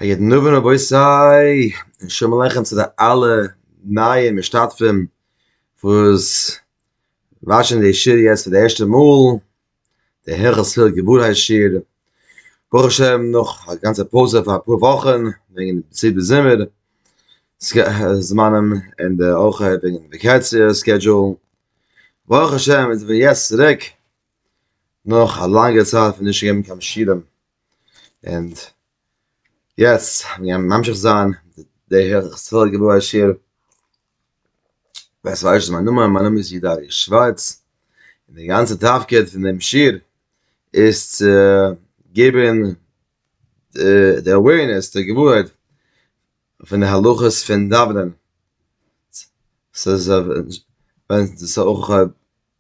א יעדן נאווען רבותי און שלום עליכם צו די אלע נייע משתתפים וואס וואטשען די שיעור יעצט פאר די ערשטע מאל די הלכות תפילה געווארהייט שיעור ברוך השם נאך א גאנצע פויזע פאר אפאר וואכן וועגן די סיבה זומער זמנים און די אויך וועגן וועקאציע סקעדזשועל ברוך השם מ'איז אבער יעצט צוריק נאך א לאנגע צייט פון נישט געבן קיין שירעם, און יעצט ווען מיר ממשיך זיין די היכל געבוי השיר, ווער ס'ווייסט נישט מיין נאמען, מיין נאמען איז איד ארי' שווארץ, און די גאנצע תפקיד פון דעם שיר איז צו געבן די אווערנעס, די געווארהייט פון די הלכות פון דאווענען, ס'איז ווען ס'איז אויך.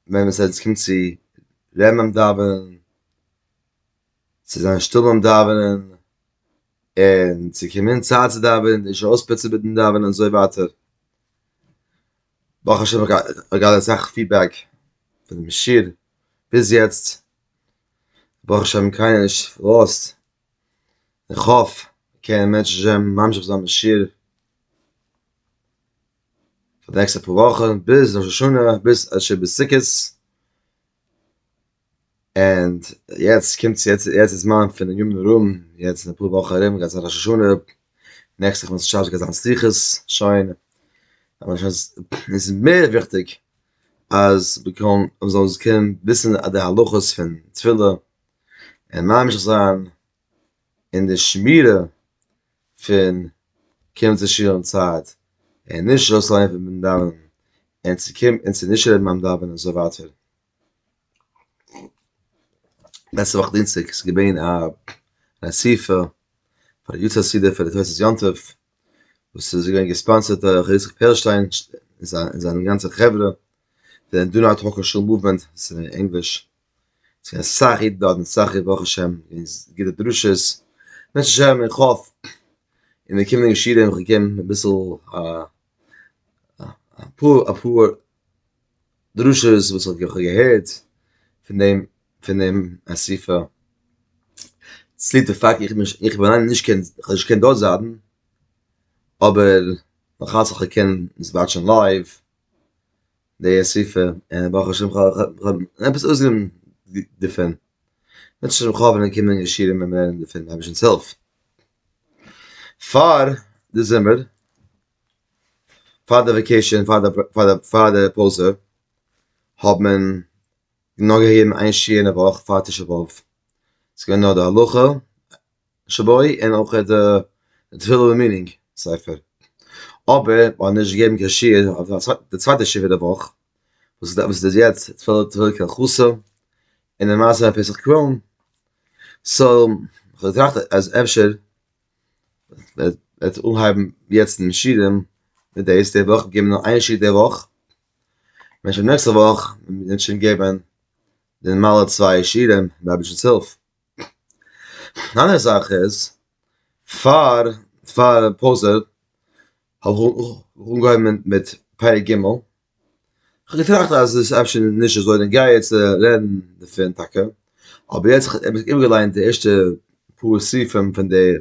ווען עס איז קומט צו רעמען דאווענען צו זיין שטיל ביים דאווענען און צו קומען צייט צו דאווענען און נישט אויספוצן מיטן דאווענען און אזוי ווייטער ברוך השם איך געהאט אסאך פידבעק פון דעם שיעור ביז יעצט ברוך השם קיינער נישט לאזט איך האף קענען מענטשן ממשיך זיין מיטן שיעור. פאר די נעקסטע פאר וואכן ביז ראש השנה ביז אשר בסוכות אנד יעצט קומט יעצט יעצט איז מאן פון יום נרום יעצט אין אפאר וואכן ארום גייט זיין ראש השנה נעקסטע חודש שאבעס גייט זיין סליחות שוין אבער שוין איז מער וויכטיג אז מ'קען מ'זאל קענען וויסן די הלכות פון תפילה און ממשיך זיין און די שמירה פון קומען צו שול אין צייט, און נישט אויסלייען פון ביים דאווענען, און צו קומען און צו נישט רעדן ביים דאווענען און אזוי ווייטער. לעצטע וואך דינסטאג איז געווען א אסיפה פאר יו ט חסידים פאר די תוס' יום טוב, וואס איז געווען געספאנסערט דורך ר' יצחק פערלשטיין און זיין גאנצע חברה, די דא נאט האקער שול מאוומענט, ענגליש. ס'איז געווען סאך אידן דארט און סאך ברוך השם און גוטע דרשות, בעזרת השם איך האף אין די קומענדיגע שיעורים וועל איך געבן אביסל א אפאר אפאר דרשות וואס איך האב געהערט פון דעם פון דעם אסיפה, צוליב די פאקט איך בין איך בין אליין נישט קיין כ'האב נישט געקענט דארט זיידן אבער מ'האט זיך געקענט וואטשן לייוו די אסיפה און ברוך השם כ'האב עפעס אויסגענומען דערפון, וועט שוין ח ו ווען קומען ישירים און לערנען דערפון מיט אייבישטנס הילף. פאר די זומער, פאר די וועקעישאן, פאר די פויזע, האט מען נאר געהערן איין שיעור אין די וואך פאר תשעה באב, ס'איז געווען נאר די הלכה, שבוי און אויך די תפילה ומנין ספר, אבער מען האט נישט געגעבן קיין שיעור אויף די צווייטע שבעה די וואך וואס איז יעצט תפילה קה חסה און די מעשה פון פסח קרוין, סאו כ'האב געטראכט אז אפשר וועט מען אנהייבן יעצט די שיעורים מיט דאס די וואך געבן נאר איין שיעור די וואך, מען שוין נעקסטע וואך וועט מען שוין געבן די נארמאלע צוויי שיעורים מיט רביש'נס הילף. אן אנדערע זאך איז, פאר פאר פויזע האב איך אנגעהויבן מיט פרק ג', כ'האב געטראכט אז עס איז אפשר נישט אזוי און גיי יעצט רעדן דערפון טאקע, אבער יעצט כ'האב איבערגעליינט די ערשטע פאר סעיפים פון די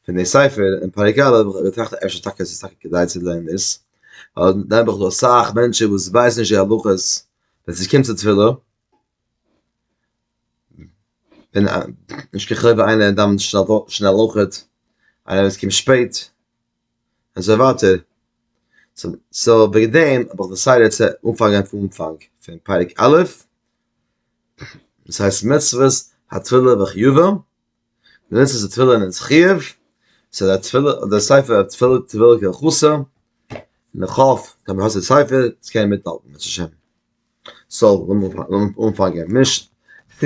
פון די ספר אין פרק א' האב איך געטראכט אז אפשר טאקע איז עס טאקע כדאי צו לערנען דאס, ווייל דאן האב איך דא אסאך מענטשן וואס ווייסן נישט די הלכות ווען ס'קומט צו תפילה. ווען א נישט קיין חובה איינער דאווענט שנעל שנעל אויך איינער וואס קומט שפעט אזוי ווייטער סאו וועגן דעם האב איך דעסיידעד צו אנפאנגען פון אנפאנג פון פרק א' דאס הייסט מצוות התפילה וחיובה די מצוות פון תפילין אין זכיב, ס'איז א תפילה, דער ספר אויף תפילת תפילין קען חסר, און איך האף אז מ'האט די ספר, צו קענען מיטהאלטן בעזרת השם. סאו, לאמיר אנפאנגען, משנ ט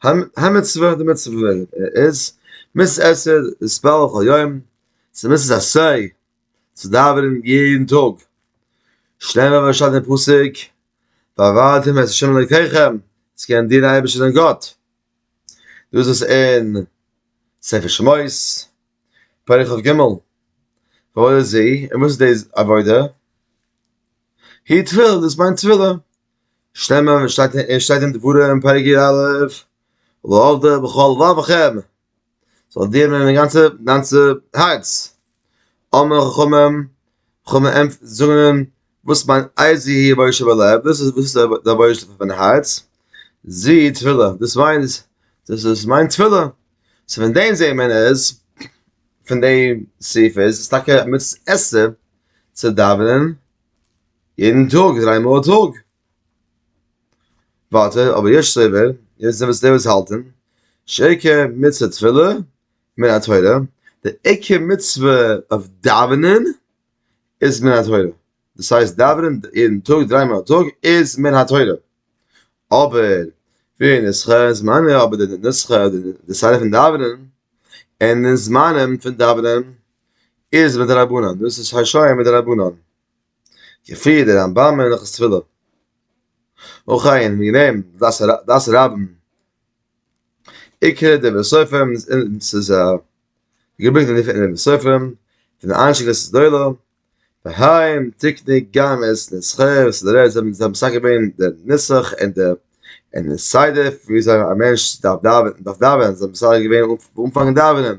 א, המצוה, די מצוה איז, מצוה עשה להתפלל כל יום, ס'איז מצוה עשה צו דאווענען יעדן טאג, שנעל ווען מ'שטייט אין פסוק, צו קענען דינען אייבערשטער דיין גאט. דא איז עס אין ספר שמות, פרק כ ג, ועוד איז זי, און וואס איז די עבודה? היא תפילה, דאס מיינט תפילה. שטעמען, וואס שטייט אין דבורה אין פרק י א, לא עבדה בכל לבבכם. זאל דיר נעמען די גאנצע גאנצע הארץ אמר חכמים חכמים זאגן וואס מיינט אייזי הי בויש אבער לעב דאס איז וואס דער בויש פון מיין הארץ זי תפילה דאס מיינט דאס איז מיין תפילה סא פון דעם זעהט מען איז פון דעם סעיף איז עס טאקע א מצוה עשה צו דאווענען יעדן טאג דריי מאל א טאג ווייטער, אבער יש סובר, יעצט זעמיר צו די וואס האלטען, שעיקר מצוה תפילה מן התורה, די עיקר מצוה אויף דאווענען איז מן התורה, דאס הייסט דאווענען יעדן טאג דריי מאל א טאג איז מן התורה, אבער די נוסחא אין זמניה, אבער די נוסחא אדער די סדר פון דאווענען אינעם זמנים פון דאווענען איז מדרבנן, דאס איז השי ת מדרבנן. כפי דער רמב ם אין הלכות תפילה. און כעין האבן מיר גענומען דעת הרמב ם, עיקר דברי סופרים און ס'איז געברענגט אין די דברי סופרים פון די אנשי קהילת גדולה, והיים תקני גם את נוסחי וסדרי האר י, זיי האבן מסדר געווען די נוסח און די און די סדר וויאזוי א מענטש דארף דאווענען, זיי האבן מסדר געווען אנפאנג דאווענען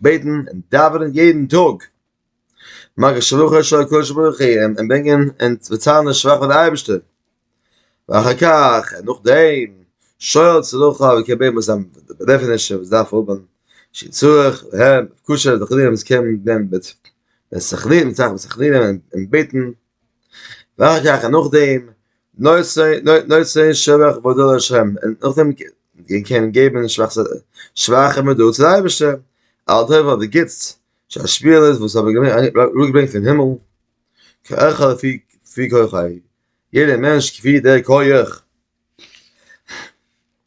בעטן און דאווענען יעדן טאג, מאכן שלוחו של הקדוש ברוך הוא און ברענגען און באציילן די שבח פאר די אייבערשטער, ואחר כך און נאכדעם שואל צרכיו ומקבל מהם זיינע באדערפענישן וואס דארף האבן שי ת וכו' וכו' וכו' און בעטן וועלכע גייען נאך דעם נושאי שבח והודאה לשם, און נאך דעם קען געבן שבחים און הודאה צו די אייבערשטער על הטוב ועל די גוטס שהשפלות וואס האבן אראפגעברענגט פון הימל, כל אחד לפי כוחו, יעדער מענטש כפי דער כח.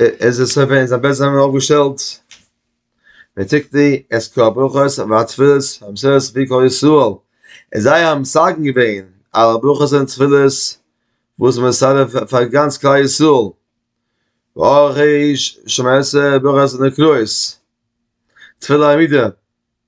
איז עס אויף אין זיין בעט זיין אויף געשטעלט מיט טיק די עס קאפ אויך אויס וואט פילס האב סעס ווי קאל איז סאל איז זיי האבן סאגן געווען אלע ברכות און תפילות וואס מען זאל פאר גאנץ כלל ישראל אויך איז שמעסע ברכות און קרויס תפילה עמידה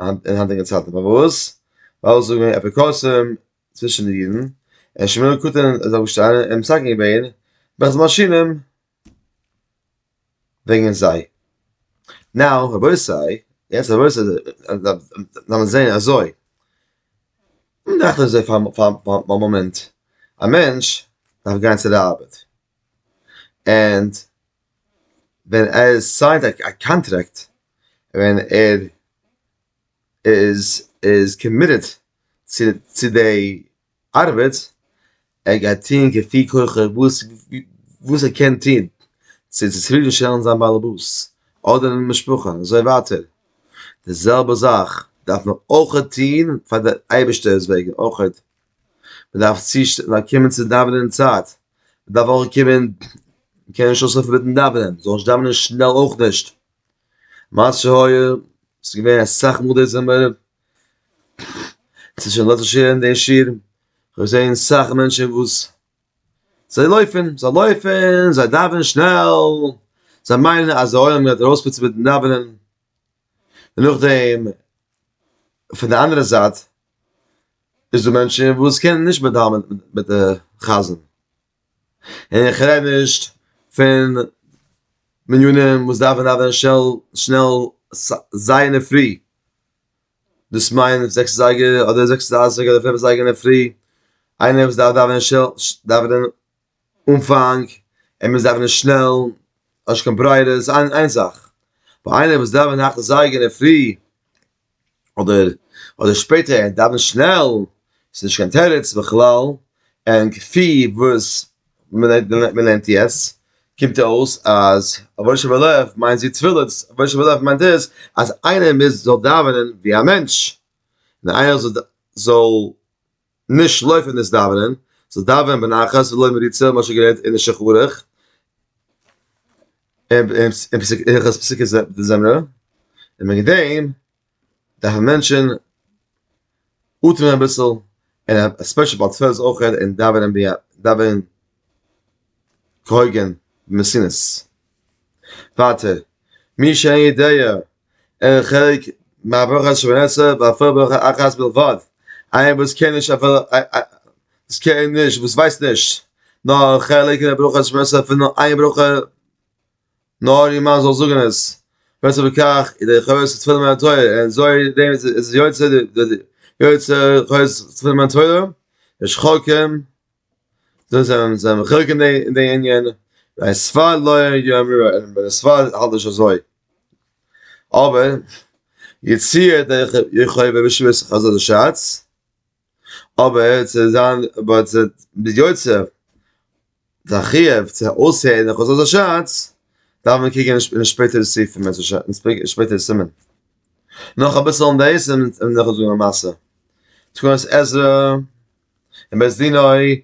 אין היינטיגע צייטן פארוואס ווייל זאגן אפיקורסים צווישן די אידן און שמואל קטן איז אויפגעשטאנען און מסכם געווען ברכת מאשינים וועגן זיי נאו רבותי יעצט רבותי לאמיר זען אזוי מיר דאכט אזוי פאר א מאמענט א מענטש דארף גיין צו די ארבעט ענד ווען ער סיינט א קאנטרעקט ווען ער איז איז קאמיטעד צו צו די ארבעט ער גייט טוהן כפי כוחו וואס וואס ער קען טוהן צו צופרידן שטעלן זיין באלעבאס אדער משפחה און אזוי ווייטער, די זעלבע זאך דארף מען אויכעט טוהן פאר די אייבערשטער'ס וועגן אויכעט. מען דארף צו זיי קומען צו דאווענען אין צייט, מען דארף אויך קומען, מען קען נישט אויסהעלפן מיטן דאווענען, מען זאל נישט דאווענען שנעל אויך נישט, מה שהיה, ס'איז געווען אסאך מאל די זומער, ס'איז שוין לעצטענס שוין אין די שיעור, כ'האב געזען סאך מענטשן וואס זיי לויפן, זיי לויפן, זיי דאווענען שנעל, זיי מיינען אז די עולם גייט ארויספוצן מיטן דאווענען, און נאכדעם פון די אנדערע זייט איז דא מענטשן וואס קענען נישט מיט דאווענען מיט די חזן, און איך רעד נישט פון מניינים וואס דארפן דאווענען שנעל שנעל זייער אין די פרי, דאס מיינט זעקס אזייגער אדער זעקס דרייסיג אדער פינף אזייגער אין די פרי, איינער וואס דארף דאווענען דאווענען אנפאנג ער מוז דאווענען שנעל האט נישט קיין ברירה איז איין איין זאך פאר איינער וואס דאווענט נאכן זייגער אינדערפרי אדער אדער שפעטער ער דאווענט שנעל איז נישט קיין תירוץ בכלל און כפי וואס מען לערנט יעצט קומט אויס אז רבונו של עולם מיינט זי תפילה רבונו של עולם מיינט דאס אז איינער מוז זאל דאווענען ווי א מענטש און איינער זאל. נישט שלאפן דאס דאווענען, זאלסט דאווענען בנחת ולא מריצה, ווי מ'האט שוין געלערנט אין די שולחן ערוך, הלכות פסוקי דזמרה, און וועגן דעם דארפן מענטשן אטעמען אביסל, און עספעשעלי ביי תפלות אויך, און דאווענען ביה ד, דאווענען כהוגן, במסינוס. ווייטער, מי שאין יודע אין חלק מהברכה שמונה עשרה ואפילו ברכה אחת בלבד, איינער וואס קען נישט אפילו וואס קען נישט וואס ווייסט נישט נאר חלק אין ברכה שמונה עשרה פון נאר איין ברכה נאר יעמאלט זאל זאגן עס וועט עס בכך ידי חובת התפילה מן התורה און אזוי דעם איז עס יוצא יוצא חובת התפילה מן התורה ושכחכם זיי זענען זיי מחולק אין די אין די ענין, ביי ספרד לא יאמרו אלא ביי די ספרד האלט נישט אזוי, אבער יציע דער יוכבד בשבט חז ל שאץ, אבער צו זיין אבער צו די יוצא די חיוב צו אויסהערן די חזות השץ דארף מען קוקן אין די שפעטערע סעיפים בעז ה אין די שפעטערע סימן, נאך אביסל אין דעיס וועל איך זאגן א מעשה, תקנות עזרא. אין בית דין אוי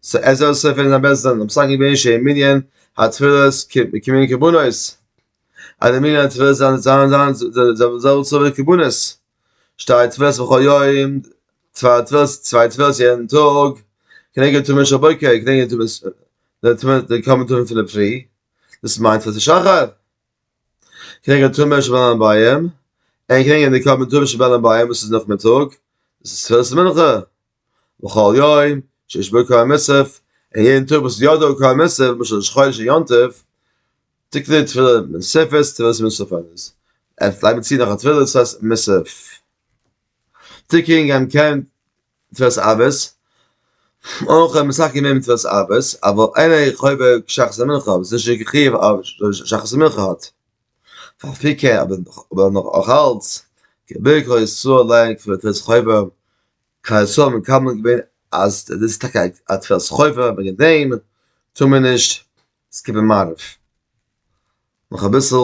סא ער זאל סופר אין א בית דין און פסק'נען געווען שעה'ן מנין התפלות כמנין קרבנות אז די מנין התפלות זאל זיין די זעלבע צאל ווי די קרבנות שתי תפילות בכל יום צוויי תפילות צוויי תפילות יעדן טאג כנגד תרומה של בוקר כנגד תרומת די קרבן טובים פון די פרי דאס מיינט פאר די שחר. קריגן די טומער שבלן ביים, און קריגן די קרבן טומ שבלן ביים וואס איז נאכמיטאג, דאס איז תפילת מנחה, וכל יום שיש בו קרן מוסף, און יעדן טאג וואס איז יא דא קרן מוסף, למשל ראש חודש און יום טוב, טוט מען די תפילה מוספת, תפילת מוסף איז, עס לייגט מען צו נאך א תפילה, דאס הייסט מוסף. תיקון עמ' קמ מצוות אבות, אויך עמ' מס' קמ מצוות אבות, אבל אינו חובה כשחרית מנחה, וואס איז נישט קיין חיוב אויב שחרית מנחה האט אפי' קער, אבער נאך אלץ געבענקט ר' ישראל לענג פון די תפילת חובה, כידוע איז מקובל געווען אז דאס איז טאקע א תפילת חובה וועגן דעם טאר מען נישט סקיפן מעריב. נאך אביסל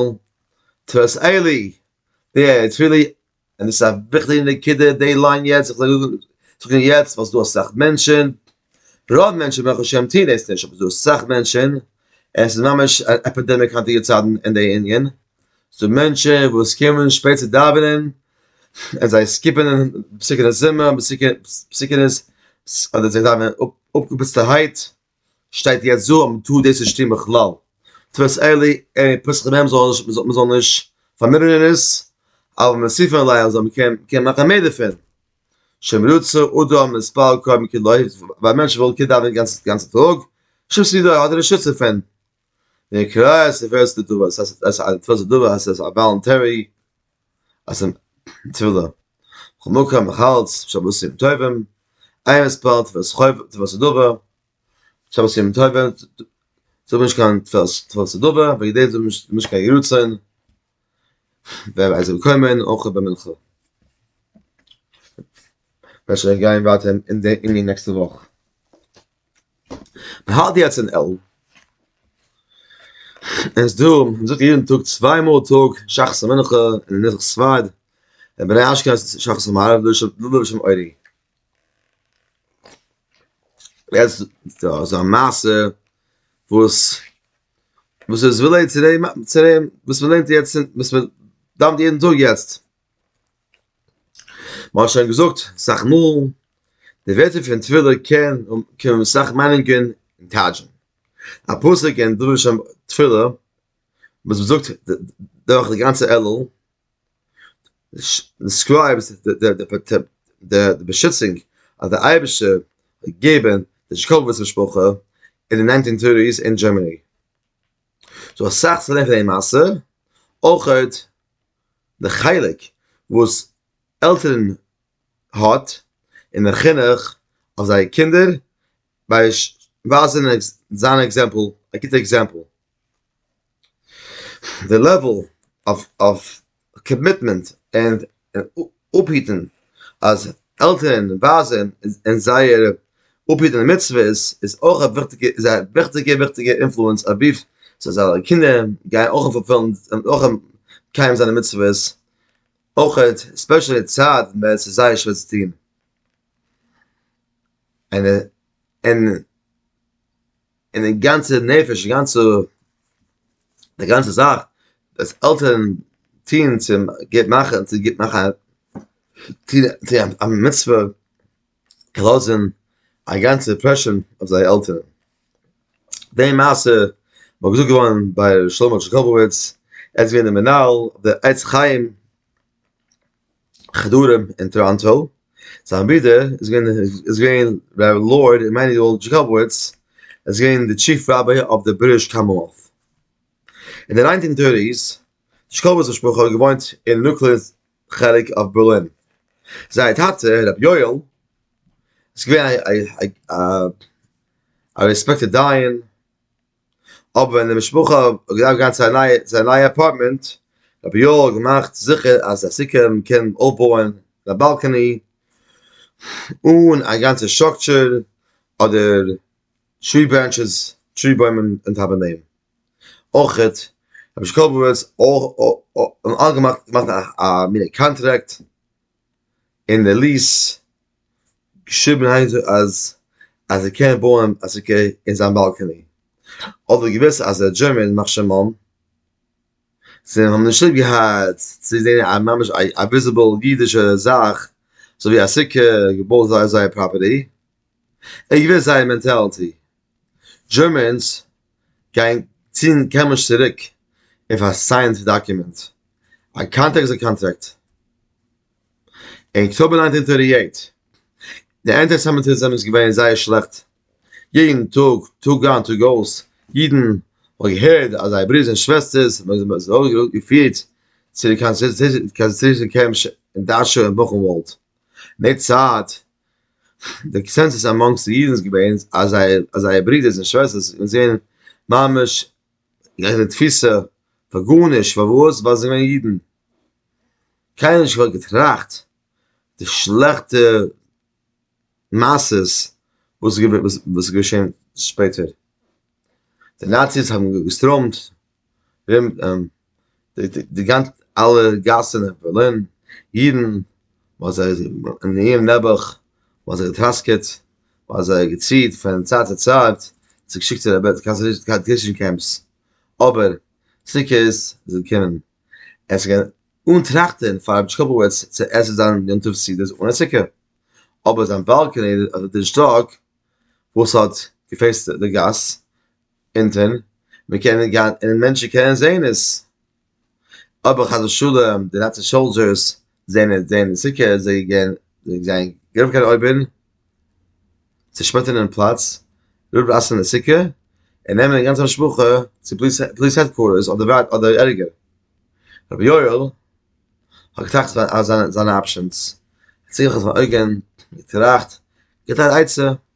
תפילת עלי', די תפילה און עס איז א וויכטיגע נקודה די ליין יעצט, איך זאל זאגן יעצט ווייל ס'איז דא אסאך מענטשן, רוב מענטשן ברוך השם טוען דאס נישט, אבער ס'איז דא אסאך מענטשן, עס איז ממש א עפידעמיק היינטיגע צייטן אין די ענין, ס'דא מענטשן וואס קומען שפעט צו דאווענען, און זיי סקיפען פסוקי די זמר, פסוקי פסוקי די, אדער זיי דאווענען אפגעפוצטערהייט. שטייט יעצט דא אז מען טאר דאס נישט טון בכלל, תפס אלי עני פסחא מהם מען זאל נישט פארמינערן עס, אבל מוסיפין עליה אז מען קען מאכן מער דערפון, שמרוצה אדם מספר קוים כלאי, ווייל א מענטש וויל קען דאווענען די גאנצע טאג, שום סיבה האט ער נישט נישט צו דאווענען. ווען קרא עס ווערסטו דא וואס עס איז א פראצעדור וואס עס איז א וואלונטערי אז אים תפילה חמקה מחלץ שבתים טובים איין עס פארט וואס חויב וואס איז דובער שבתים טובים זאג נישט קיין תפילה וואס איז דובער וועגן דעם זאג נישט נישט קיין ירצון ווען עס זאל קומען אויך ביי מנחה וועל שוין גיין ווייטער אין די אין די נעקסטע וואך. האלט יעצט אין עלם. עס דא, מען זאגט יעדן טאג צוויי מאל א טאג שחר ומנחה און נוסח ספרד, און ביי די אשכנז שחר ומעריב לויט לויט שם אורי. יעצט דא איז א מעשה וואס וואס איז רילעיט צו דעם צו דעם וואס מען לערנט יעצט וואס מען דאווענט יעדן טאג יעצט. מ'האט שוין געזאגט סאך מאל, די ווערטער פון תפילה קען האבן סאך מיינונגען און טייטשן. א פסוק אין דרוש תפילה וואס מ'זאגט דורך די גאנצע עלול, דעסקרייבט די באשיצונג אז דער אייבערשטער וועט געבן די זשיקאוויטץ משפחה אין די ניינטין טערטיס אין דזשערמעני. ס'דא אסאך צו לערנען פון די מעשה, אויכעט די חלק וואס עלטערן האט אין די חינוך אויף זייער קינדער ביי ווייזען זיין עקזעמפל א גוטע עקזעמפל. די לעוועל אויף קאמיטמענט און אפהיטן אז עלטערן ווייזען און זייער אפהיטן די מצוות איז אויך א וויכטיגע איז א וויכטיגע וויכטיגע אינפלוענס אויף סאיז א קינדער גייען אויך פולפילן אויך מקיים זיין די מצוות אויכעט ספעשעלי די צייט ווען סאיז זייער שווער צו טוהן. און די גאנצע נפש, די גאנצע, די גאנצע זאך, דאס עלטערן טוהן צו גוט מאכן, צו גוט מאכן א מצוה, לאזן א גאנצע אימפרעשאן אויף זייער עלטערן. די מעשה וואס געזאגט געווארן ביי ר' שלמה דזשיקאבעוויטץ, ער איז געווען דער מנהל, דער עץ חיים, חדרים אין טאראנטא, זיין ברודער איז געווען איז געווען ר' לארד עמנואל דזשיקאבוויטץ איז געווען די טשיף ראביי אויף די בריטיש קאמאנוועלט. אין די ניינטין טערטיס דזשיקאבוויטץ משפחה האט געוואוינט אין נוקלער חלק אויף בערלין. זייער טאטע ר' יואל איז געווען א א רעספעקטעד דיין. אבער ווען די משפחה האט געדארפט גיין צו א נייע צו א נייע אפארטמענט האט רבי יואל געמאכט זיכער אז די סוכה מען קען אויפבויען א באלקעני אן א גאנצע סטראקטשער אדער טרי ברענטשעס טרי בוימען און טאפ אויף דעם אויכעט האט משקולבעוויטץ אויך אויך אויך אויך געמאכט א מין קאנטראקט. אין די ליעס געשריבן איין זאגט אז אז ער קען בויען א סוכה אין זיין באלקעני אבער געוויסע אז א דזשערמען יימח שמו זיי האבן נישט ליב געהאט צו זעהן א ממש א א וויזיבעל אידישע זאך אזוי ווי א סוכה געבויט אויף זייער פראפערטי ער האט געוויסט זייער מענטעלעטי דזשערמענס גייען צינדן כעמערשט צוריק אויף א סיינד דאקומענט, א קאנטראקט איז א קאנטראקט. אין אקטאבער נײַנצן הונדערט דרײַ און אַכציק די אנטיסעמיטיזם איז געווען זייער שלעכט, יעדן טאג טאג איין טאג אויס אידן האבן געהערט אז זייער ברודערס און שוועסטערס זענען געפירט צו די קאנצעטרעישן קעמפס אין דאשאו און בוכענוואלד. אין די צייט די קאנסענסוס עמאנגס די אידן איז געווען אז זייער אז זייער ברודערס און שוועסטערס און זענען ממש אין די תפיסה פאר גארנישט פארוואס ווייל זיי זענען אידן קיינער האט נישט בכלל געטראכט די שלעכטע מעשות וואס איז געווען וואס איז געשען שפעטער די נאציס האבן געסטראמט רוימט די גאנצע אלע גאסן אין בערלין, אידן, מ'האט זיי אין איהם נעבעך, מ'האט זיי געטראסקעט, מ'האט זיי געציהט פון צייט צו צייט, צו געשיקט צו די קאנצענטרעישן קעמפס, אבער סוכות איז געקומען, עס איז געווען אן טראכטען פאר רבי טשוקובעוויטש צו עסן זיין יום טוב סעודות אן א סוכה, אבער זיין באלקעני האט נישט געשטאק וואס האט געפעיסט די גאס, אונטען, מען קען נישט גיין און מענטשן קענען זען עס, אבער חס ושלום די נאצי סאלדזשערס זען עס זען די סוכה איז זיי געווען זיי זענען געלאפן קיין אויבן צעשמעטענען פלאץ ריפלעיסן די סוכה און נעמען די גאנצע משפחה צו פאליס העדקווארטערס אדער אדער ערגער, רבי יואל האט געטראכט אז זיינע אפשענס, האט זיך אויפן אויגן געטראכט, געבט אן עצה.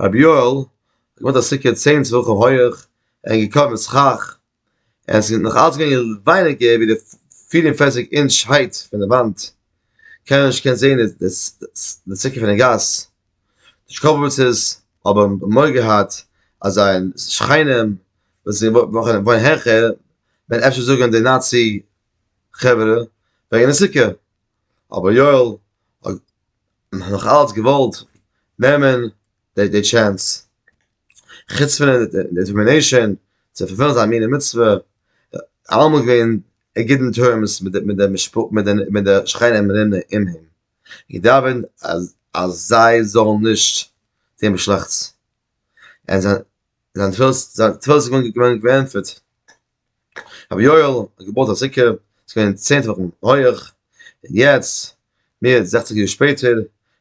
רבי יואל האט געבויט א סוכה צען טפחים הויעך און געקאוועט מיט סכך און עס איז נאך אלץ געווען ווייניגער ווי די פֿיר און פֿערציק אינטש הייט פון די וואנט, קיינער האט נישט געקענט זען די סוכה פון די גאס, די שקאפאוויצעס האבן מורא געהאט אז זייער שכנים וואס וואוינען העכער וועלן אפשר זאגן די נאצי חברה וועגן די סוכה, אבער יואל האט. נאך אלץ געוואלט נעמען די די טשענס, חוץ פון די דעטערמינעישאן צו פארפילן זיין מינע מצוה, אלעמאל געווען אין גוטן טערמס מיט די מיט די משפחה מיט די שכנים ארום אים, געדאווענט אז אז זיי זאלן נישט טון שלעכטס, און זיין זיין תפלה איז געווען געענטפערט. רבי יואל האט געבויט א סוכה, ס'איז געווען צען טפחים הויעך, און יעצט, מער ווי זעכציג יאר שפעטער,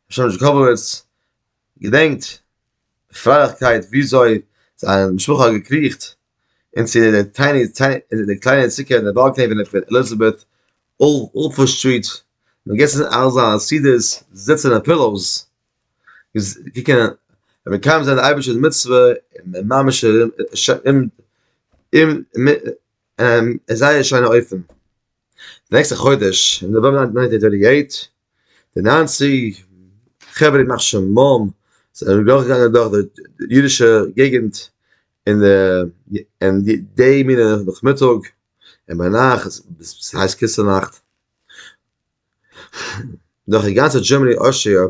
משמש דזשיקאבאוויטץ געדענקט מיט פרייליכקייט וויאזוי זיין משפחה האט געקריכט אין צו די טייני אין די קליינע סוכה אין די באלקעני פון די עליזאבעט אויף אלפא סטריט, און געגעסן אלזא סעודות זיצן אויף פילאוס. ווי קען מען מקיים זיין די אייבערשטערס מצוה און ממש אין זייער שיינע אופן. נעקסטע חודש אין נאוועמבער ניינטין טווענטי עיט, די ניינציג חברה ימח שמם זענען דורכגעגאנגען דורך די אידישע געגענט אין די אין די מינע נאכמיטאג און ביינאכט, ס'הייסט כיסו נאכט, דורך די גאנצע דזשערמאני אויסשעיו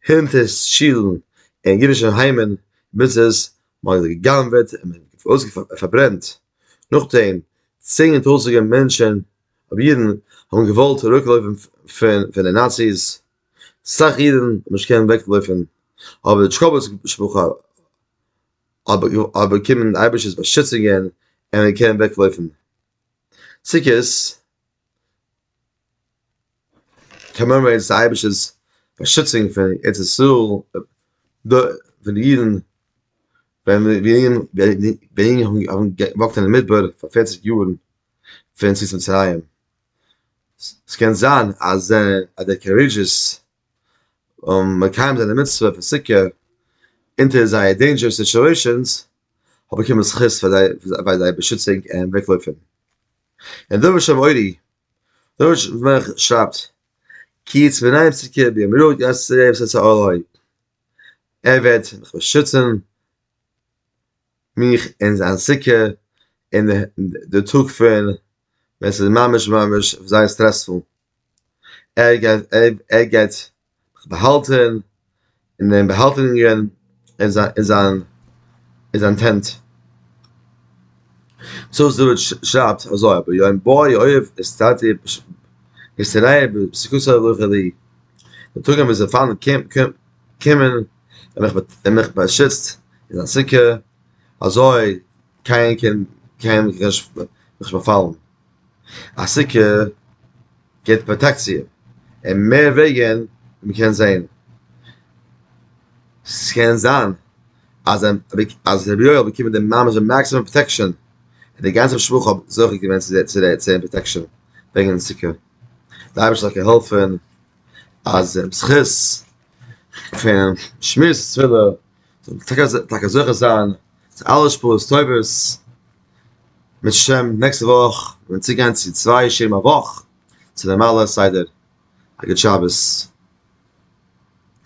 הינטער שילן און אידישע היימען ביזנעס מען האט גע'גנב'עט און פארברענט נאכדעם צען טויזענטער מענטשען אויב אידן האבן געוואלט אוועקלויפן פון די נאציס סאך אידן האבן נישט געקענט אוועקלויפן אבער די טשיקאווע משפחה האט באקומען אייבישטער'ס באשיצונגען און מען קען אוועקלויפן. סוכות קאמעמארעיטס די אייבערשטער'ס באשיצונג פון ארץ ישראל, פון די אידן ווען ענק האבן געוואקט אין מדבר פאר פערציג יארן פון יציאת מצרים, ס'קען זיין אז דער קארידזשעס און מקיים זיין די מצוה פון סוכה אונטער זייער דעינדזשערס סיטועשענס האט באקומען זכות פאר זיי ביי זייער באשיצונג און וועגלויפען. און דבש שם אורי דבש מח שרייבט כי יצא מנין סוכה ביום רוה ג עשה י עשה א ל הוי ער וועט מיך באשיצען מיך אין זיין סוכה אין די טאג פון ווען ס'איז ממש ממש זייער סטרעספול. ער גייט ער גייט באהאלטען אינעם באהאלטונגען אין זיין אין זיין אין זיין טענט. צאנז דוד שרייבט אזוי אבער יום בואי אוהב אסתתיה אסתריה בסוכותיה לכה דאי די טאג ווען זיי פארן קומט קומט קומען און מיך און מיך באשיצט אין זיין סוכה אזוי קיינער קען קיינעם נישט באפאלן. א סוכה געבט פראטעקציע און מער וועגן ווי מען קען זעהן. ס'קען זיין אז אז רבי יואל האט באקומען די ממש די מאקסימום פראטעקשאן און די גאנצע משפחה האט זוכה געווען צו זיין פראטעקשאן וועגן די סוכה. די אייבערשטער זאל געהאלפן אז זכות פון שמירת סוכה טאקע זוכה זיין צו אלע שפעות טובות, מיט השם נעקסטע וואך ווען מיר צוגיין צו צוויי שיעורים א וואך, צו נארמאלע סדר, א גוט שבת.